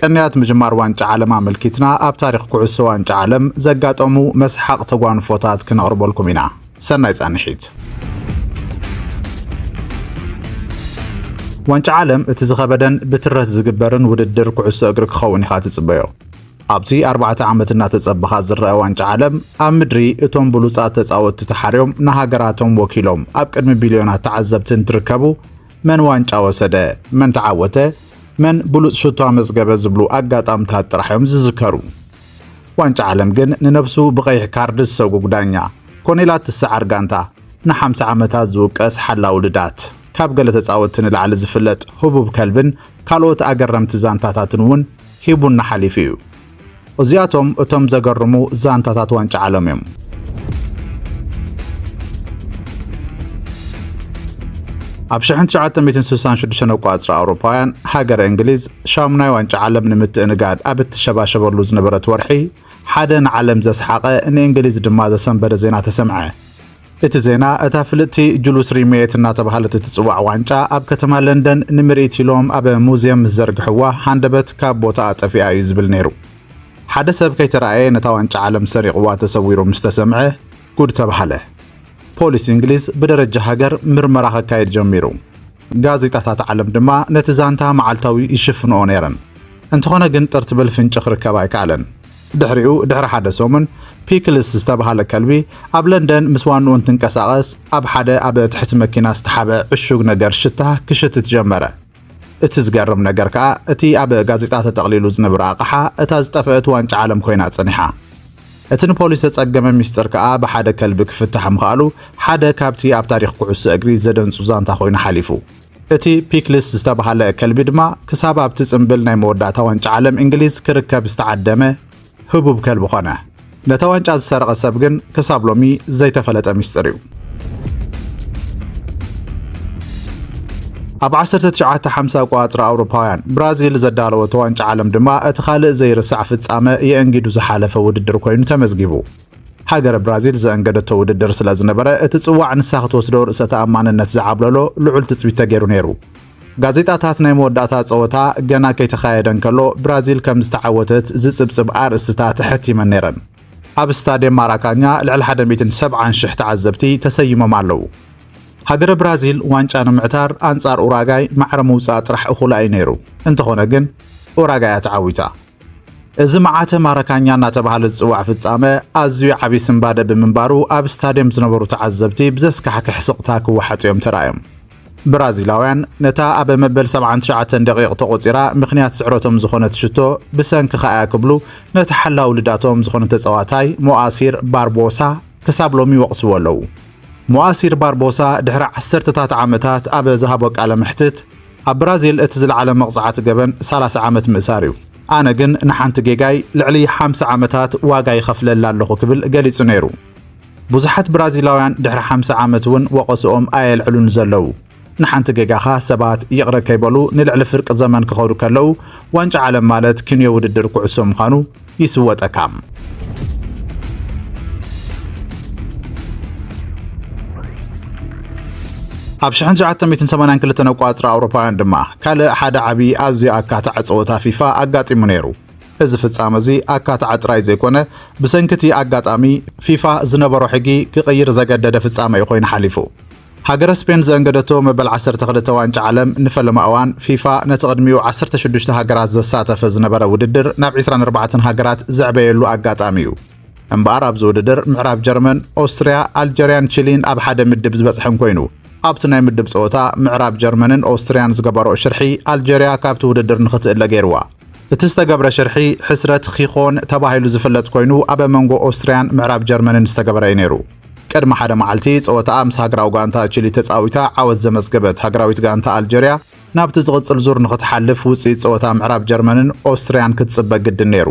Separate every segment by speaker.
Speaker 1: ቅንያት ምጅማር ዋንጫ ዓለም ኣመልኪትና ኣብ ታሪኽ ኩዕሶ ዋንጫ ዓለም ዘጋጠሙ መስሓቕ ተጓንፎታት ክነቕርበልኩም ኢና። ሰናይ ጻንሒት። ዋንጫ ዓለም እቲ ዝኸበደን ብትረት ዝግበርን ውድድር ኩዕሶ እግሪ ክኸውን ኢኻ ትጽበዮ። ኣብቲ ኣርባዕተ ዓመት እናተጸበኻ ዝረኣ ዋንጫ ዓለም ኣብ ምድሪ እቶም ብሉጻት ተጻወትቲ ተሓርዮም ንሃገራቶም ወኪሎም ኣብ ቅድሚ ቢልዮናት ተዓዘብቲ እንትርከቡ መን ዋንጫ ወሰደ፣ መን ተዓወተ፣ መን ብሉጽ ሽቶ ኣመዝገበ ዝብሉ ኣጋጣምታት ጥራሕ እዮም ዝዝከሩ። ዋንጫ ዓለም ግን ንነብሱ ብቐይሕ ካርድ ዝሰጉግ ዳኛ፣ ኮኔላ እትሰዓር ጋንታ፣ ንሓምሳ ዓመታት ዝውቀስ ሓላዊ ልዳት፣ ካብ ገለ ተጻወትቲ ንላዕሊ ዝፍለጥ ህቡብ ከልብን ካልኦት ኣገረምቲ ዛንታታትን እውን ሂቡና ሓሊፉ እዩ። እዚኣቶም እቶም ዘገርሙ ዛንታታት ዋንጫ ዓለም እዮም። ኣብ ሽሕን ትሽዓተ ሚእትን ስሳን ሽዱሽተን ኣቋጽራ ኣውሮፓውያን ሃገረ እንግሊዝ ሻሙናይ ዋንጫ ዓለም ንምትእንጋድ ኣብ እትሸባሸበሉ ዝነበረት ወርሒ ሓደ ንዓለም ዘስሓቐ ንእንግሊዝ ድማ ዘሰንበደ ዜና ተሰምዐ። እቲ ዜና፣ እታ ፍልጥቲ ጁሉስ ሪመየት እናተብሃለት እትጽዋዕ ዋንጫ፣ ኣብ ከተማ ለንደን ንምርኢት ኢሎም ኣብ ሙዝየም ምስ ዘርግሕዋ፣ ሃንደበት ካብ ቦታኣ ጠፊኣ እዩ ዝብል ነይሩ። ሓደ ሰብ ከይተራእየ ነታ ዋንጫ ዓለም ሰሪቕዋ ተሰዊሩ ምስ ተሰምዐ ጉድ ተባህለ። ፖሊስ እንግሊዝ ብደረጃ ሃገር ምርመራ ከካይድ ጀሚሩ። ጋዜጣታት ዓለም ድማ ነቲ ዛንታ መዓልታዊ ይሽፍንኦ ነይረን። እንተኾነ ግን ጥር ትብል ፍንጪ ክርከብ ኣይከኣለን። ድሕሪኡ ድሕሪ ሓደ ሰሙን፣ ፒክልስ ዝተብሃለ ከልቢ ኣብ ለንደን ምስ ዋንኡ እንትንቀሳቐስ ኣብ ሓደ ኣብ ትሕቲ መኪና ዝተሓብአ ዕሹግ ነገር ሽታ ክሽትት ጀመረ። እቲ ዝገርም ነገር ከኣ እቲ ኣብ ጋዜጣ ተጠቕሊሉ ዝንብረ ኣቕሓ እታ ዝጠፈእት ዋንጫ ዓለም ኮይና ጸኒሓ። እቲ ንፖሊስ ዘጸገመ ሚስጥር ከኣ ብሓደ ከልቢ ክፍታሕ ምኽኣሉ ሓደ ካብቲ ኣብ ታሪኽ ኩዕሶ እግሪ ዘደንጹ ዛንታ ኮይኑ ሓሊፉ። እቲ ፒክልስ ዝተባህለ ከልቢ ድማ ክሳብ ኣብቲ ጽምብል ናይ መወዳእታ ዋንጫ ዓለም እንግሊዝ ክርከብ ዝተዓደመ ህቡብ ከልቢ ኾነ። ነታ ዋንጫ ዝሰረቐ ሰብ ግን ክሳብ ሎሚ ዘይተፈለጠ ሚስጥር እዩ። ኣብ 1950 ኣቋጽራ ኣውሮፓውያን ብራዚል ዘዳለወቶ ዋንጫ ዓለም ድማ እቲ ካልእ ዘይርሳዕ ፍጻመ የእንጊዱ ዝሓለፈ ውድድር ኮይኑ ተመዝጊቡ። ሃገረ ብራዚል ዘእንገደቶ ውድድር ስለ ዝነበረ፣ እቲ ጽዋዕ ንሳ ክትወስዶ ርእሰ ተኣማንነት ዝዓብለሎ ልዑል ትጽቢት ተገይሩ ነይሩ። ጋዜጣታት ናይ መወዳእታ ጸወታ ገና ከይተኻየደ እንከሎ ብራዚል ከም ዝተዓወተት ዝጽብጽብ ኣርእስትታት ኣሐቲመን ነይረን። ኣብ ስታድየም ማራካኛ ልዕሊ ሓደ ሚእትን ሰብዓን ሽሕ ተዓዘብቲ ተሰይሞም ኣለዉ። ሃገረ ብራዚል ዋንጫ ንምዕታር ኣንጻር ኡራጋይ ማዕረ ምውጻእ ጥራሕ እኹላ እዩ ነይሩ። እንተኾነ ግን ኡራጋይ እያ ተዓዊታ። እዚ መዓተ ማረካኛ እናተባህለ ዝጽዋዕ ፍጻመ ኣዝዩ ዓቢ ስንባደ ብምንባሩ ኣብ ስታድየም ዝነበሩ ተዓዘብቲ ብዘስካሕክሕ ስቕታ ክወሓጡ እዮም ተራእዮም። ብራዚላውያን ነታ ኣብ መበል ሰብዓን ትሽዓተን ደቒቕ ተቖጺራ ምኽንያት ስዕረቶም ዝኾነት ሽቶ ብሰንክኻ እያ ክብሉ ነቲ ሓላዊ ልዳቶም ዝኾነ ተጻዋታይ ሞኣሲር ባርቦሳ ክሳብ ሎሚ ይወቕስዎ ኣለዉ። ሞኣሲር ባርቦሳ ድሕሪ ዓሰርተታት ዓመታት ኣብ ዝሃቦ ቃለ መሕትት ኣብ ብራዚል እቲ ዝለዓለ መቕጻዕቲ ገበን ሰላሳ ዓመት ምእሳር እዩ። ኣነ ግን ንሓንቲ ጌጋይ ልዕሊ ሓምሳ ዓመታት ዋጋ ይኸፍለላ ኣለኹ ክብል ገሊጹ ነይሩ። ብዙሓት ብራዚላውያን ድሕሪ ሓምሳ ዓመት እውን ወቐስኦም ኣየልዕሉን ዘለዉ። ንሓንቲ ጌጋኻ ሰባት ይቕረ ከይበሉ ንልዕሊ ፍርቂ ዘመን ክኸዱ ከለዉ ዋንጫ ዓለም ማለት ኪንዮ ውድድር ኩዕሶ ምዃኑ ይስወጠካ። ኣብ ሽሕን ትሽዓተ ሚእትን ሰማንያን ክልተን ኣቋጽራ ኣውሮፓውያን ድማ ካልእ ሓደ ዓቢ ኣዝዩ ኣካታዕ ጸወታ ፊፋ ኣጋጢሙ ነይሩ። እዚ ፍጻመ እዚ ኣካታዕ ጥራይ ዘይኮነ ብሰንኪ እቲ ኣጋጣሚ ፊፋ ዝነበሮ ሕጊ ክቕይር ዘገደደ ፍጻመ እዩ ኮይኑ ሓሊፉ። ሃገረ ስፔን ዘእንገደቶ መበል ዓሰርተ ክልተ ዋንጫ ዓለም ንፈለማ እዋን፣ ፊፋ ነቲ ቅድሚኡ ዓሰርተ ሽዱሽተ ሃገራት ዘሳተፈ ዝነበረ ውድድር ናብ ዕስራን ኣርባዕተን ሃገራት ዘዕበየሉ ኣጋጣሚ'ዩ። እምበኣር ኣብዚ ውድድር ምዕራብ ጀርመን፣ ኦስትርያ፣ ኣልጀርያን ቺሊን ኣብ ሓደ ምድብ ዝበጽሐን ኮይኑ፣ ኣብቲ ናይ ምድብ ጸወታ ምዕራብ ጀርመንን ኦስትርያን ዝገበርኦ ሽርሒ ኣልጀርያ ካብቲ ውድድር ንኽትእለ ገይርዋ። እቲ ዝተገብረ ሽርሒ ሕስረት ኺኾን ተባሂሉ ዝፍለጥ ኮይኑ፣ ኣብ መንጎ ኦስትርያን ምዕራብ ጀርመንን ዝተገበረ'ዩ ነይሩ። ቅድሚ ሓደ መዓልቲ ጸወታኣ ምስ ሃገራዊ ጋንታ ቺሊ ተጻዊታ ዓወት ዘመዝገበት ሃገራዊት ጋንታ ኣልጀርያ፣ ናብቲ ዝቕጽል ዙር ንኽትሓልፍ ውጽኢት ጸወታ ምዕራብ ጀርመንን ኦስትርያን ክትጽበ ግድን ነይሩ።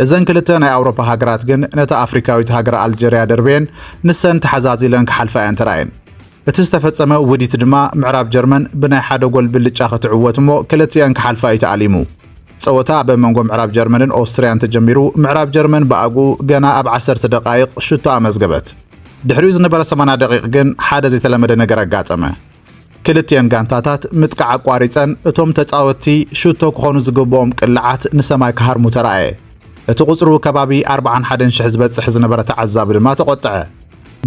Speaker 1: እዘን ክልተ ናይ ኣውሮፓ ሃገራት ግን ነታ ኣፍሪካዊት ሃገር ኣልጀርያ ደርብየን ንሰን ተሓዛዚለን ክሓልፋ እየን ተራእየን። እቲ ዝተፈጸመ ውዲት ድማ ምዕራብ ጀርመን ብናይ ሓደ ጎል ብልጫ ክትዕወት እሞ ክልቲኤን ክሓልፋ እዩ ተኣሊሙ። ጸወታ ኣብ መንጎ ምዕራብ ጀርመንን ኦስትርያን ተጀሚሩ፣ ምዕራብ ጀርመን ብኣግኡ ገና ኣብ ዓሰርተ ደቓይቕ ሽቶ ኣመዝገበት። ድሕሪኡ ዝነበረ ሰማንያ ደቒቕ ግን ሓደ ዘይተለመደ ነገር ኣጋጠመ። ክልቲኤን ጋንታታት ምጥቃዕ ኣቋሪጸን፣ እቶም ተጻወትቲ ሽቶ ክኾኑ ዝግብኦም ቅላዓት ንሰማይ ክሃርሙ ተራእየ። እቲ ቁጽሩ ከባቢ ኣርብዓን ሓደን ሽሕ ዝበጽሕ ዝነበረ ተዓዛቢ ድማ ተቖጥዐ።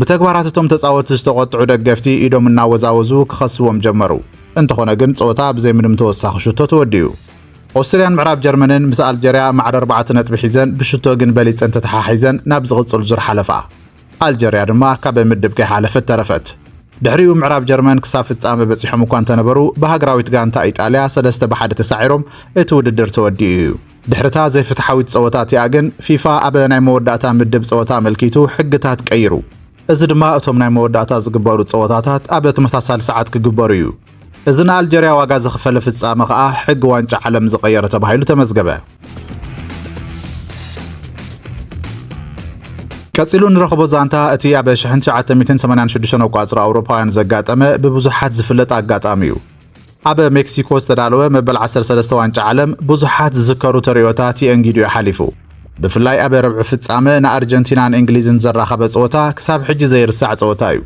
Speaker 1: ብተግባራት እቶም ተጻወቲ ዝተቖጥዑ ደገፍቲ ኢዶም እናወዛወዙ ክኸስዎም ጀመሩ። እንተኾነ ግን ጸወታ ብዘይ ምንም ተወሳኺ ሽቶ ተወዲኡ። ኦስትርያን ምዕራብ ጀርመንን ምስ ኣልጀርያ ማዕረ ኣርባዕተ ነጥቢ ሒዘን ብሽቶ ግን በሊጸን ተተሓሒዘን ናብ ዝቕጽል ዙር ሓለፋ። ኣልጀርያ ድማ ካብ ምድብ ከይሓለፈት ተረፈት። ድሕሪኡ ምዕራብ ጀርመን ክሳብ ፍጻመ በጺሖም እኳ እንተነበሩ ብሃገራዊት ጋንታ ኢጣልያ ሰለስተ ብ ሓደ ተሳዒሮም እቲ ውድድር ተወዲኡ እዩ። ድሕሪ'ታ ዘይፍትሓዊት ጸወታ እቲኣ ግን፣ ፊፋ ኣብ ናይ መወዳእታ ምድብ ጸወታ ኣመልኪቱ ሕግታት ቀይሩ። እዚ ድማ እቶም ናይ መወዳእታ ዝግበሩ ጸወታታት ኣብ ተመሳሳሊ ሰዓት ክግበሩ እዩ። እዚ ንኣልጀርያ ዋጋ ዘኽፈለ ፍጻመ ከኣ ሕጊ ዋንጫ ዓለም ዝቐየረ ተባሂሉ ተመዝገበ። ቀጺሉ እንረኽቦ ዛንታ እቲ ኣብ ሽሕን ትሽዓተ ሚእትን ሰማንያን ሽዱሽተን ኣቋጽራ ኣውሮፓውያን ዘጋጠመ ብብዙሓት ዝፍለጥ ኣጋጣሚ እዩ። ኣብ ሜክሲኮ ዝተዳለወ መበል 13 ዋንጫ ዓለም ብዙሓት ዝዝከሩ ተርእዮታት የእንጊዱ እዩ ሓሊፉ። ብፍላይ ኣብ ረብዒ ፍጻመ ንኣርጀንቲናን እንግሊዝን ዘራኸበ ጸወታ ክሳብ ሕጂ ዘይርሳዕ ጸወታ እዩ።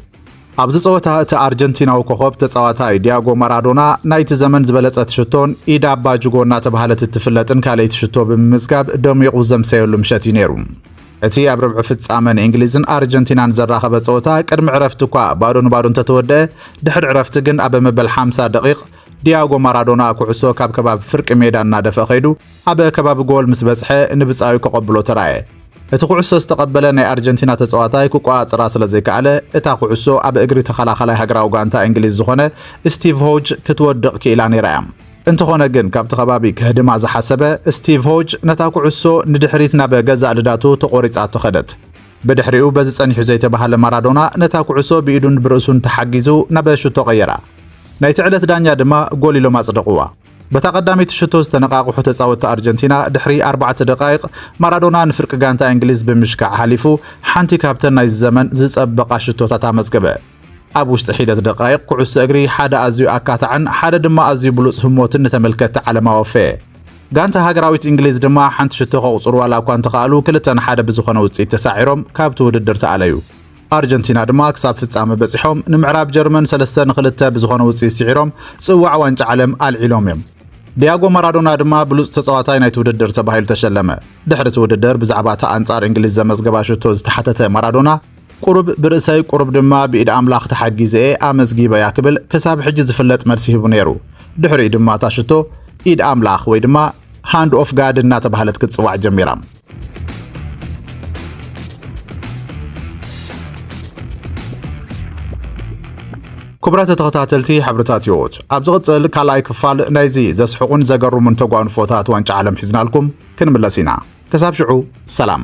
Speaker 1: ኣብዚ ጸወታ እቲ ኣርጀንቲናዊ ኮኸብ ተጻዋታይ ዲያጎ ማራዶና ናይቲ ዘመን ዝበለጸት ሽቶን ኢድ ኣባ ጅጎ እናተባህለት እትፍለጥን ካልኣይቲ ሽቶ ብምምዝጋብ ደሚቑ ዘምሰየሉ ምሸት እዩ ነይሩ። እቲ ኣብ ርብዒ ፍጻመ ንእንግሊዝን ኣርጀንቲናን ዘራኸበ ጸወታ ቅድሚ ዕረፍቲ እኳ ባዶ ንባዶ እንተተወድአ ድሕሪ ዕረፍቲ ግን ኣብ መበል ሓምሳ ደቒቕ ዲያጎ ማራዶና ኩዕሶ ካብ ከባቢ ፍርቂ ሜዳ እናደፍአ ከይዱ ኣብ ከባቢ ጎል ምስ በጽሐ ንብጻዩ ከቐብሎ ተራእየ። እቲ ኩዕሶ ዝተቐበለ ናይ ኣርጀንቲና ተጻዋታይ ክቆጻጽራ ስለ ዘይከኣለ እታ ኩዕሶ ኣብ እግሪ ተኸላኻላይ ሃገራዊ ጋንታ እንግሊዝ ዝኾነ ስቲቭ ሆጅ ክትወድቕ ክኢላ ነይራ እያ። እንተኾነ ግን ካብቲ ከባቢ ከህድማ ዝሓሰበ ስቲቭ ሆጅ ነታ ኩዕሶ ንድሕሪት ናብ ገዛእ ልዳቱ ተቖሪጻቶ ከደት። ብድሕሪኡ በዚ ጸኒሑ ዘይተባህለ ማራዶና ነታ ኩዕሶ ብኢዱን ብርእሱን ተሓጊዙ ናብ ሽቶ ቀየራ። ናይቲ ዕለት ዳኛ ድማ ጎል ኢሎም ኣጽደቑዋ። በታ ቀዳመይቲ ሽቶ ዝተነቓቕሑ ተጻወትቲ ኣርጀንቲና ድሕሪ ኣርባዕተ ደቓይቕ ማራዶና ንፍርቂ ጋንታ እንግሊዝ ብምሽካዕ ሓሊፉ ሓንቲ ካብተን ናይዚ ዘመን ዝጸበቓ ሽቶታት ኣመዝገበ። ኣብ ውሽጢ ሒደት ደቓይቕ፣ ኩዕሶ እግሪ ሓደ ኣዝዩ ኣካታዕን ሓደ ድማ ኣዝዩ ብሉጽ ህሞትን ንተመልከትቲ ዓለም ኣወፈየ። ጋንታ ሃገራዊት እንግሊዝ ድማ ሓንቲ ሽቶ ከቑጽሩ ዋላ እኳ እንተኸኣሉ ክልተ ን ሓደ ብዝኾነ ውጽኢት ተሳዒሮም ካብቲ ውድድር ተኣለዩ። ኣርጀንቲና ድማ ክሳብ ፍጻመ በጺሖም ንምዕራብ ጀርመን ሰለስተ ን ክልተ ብዝኾነ ውጽኢት ስዒሮም ጽዋዕ ዋንጫ ዓለም ኣልዒሎም እዮም። ዲያጎ ማራዶና ድማ ብሉጽ ተጻዋታይ ናይቲ ውድድር ተባሂሉ ተሸለመ። ድሕሪ እቲ ውድድር ብዛዕባ እታ ኣንጻር እንግሊዝ ዘመዝገባ ሽቶ ዝተሓተተ ማራዶና፣ ቁሩብ ብርእሰይ ቁሩብ ድማ ብኢድ ኣምላኽ ተሓጊዘ'የ ኣመዝጊበያ ክብል ክሳብ ሕጂ ዝፍለጥ መልሲ ሂቡ ነይሩ። ድሕሪኡ ድማ እታ ሽቶ ኢድ ኣምላኽ ወይ ድማ ሃንድ ኦፍ ጋድ እናተባህለት ክትጽዋዕ ጀሚራ። ክቡራት ተኸታተልቲ ሕብርታት ህይወት ኣብ ዝቕጽል ካልኣይ ክፋል ናይዚ ዘስሕቑን ዘገርሙን ተጓንፎታት ዋንጫ ዓለም ሒዝናልኩም ክንምለስ ኢና። ክሳብ ሽዑ ሰላም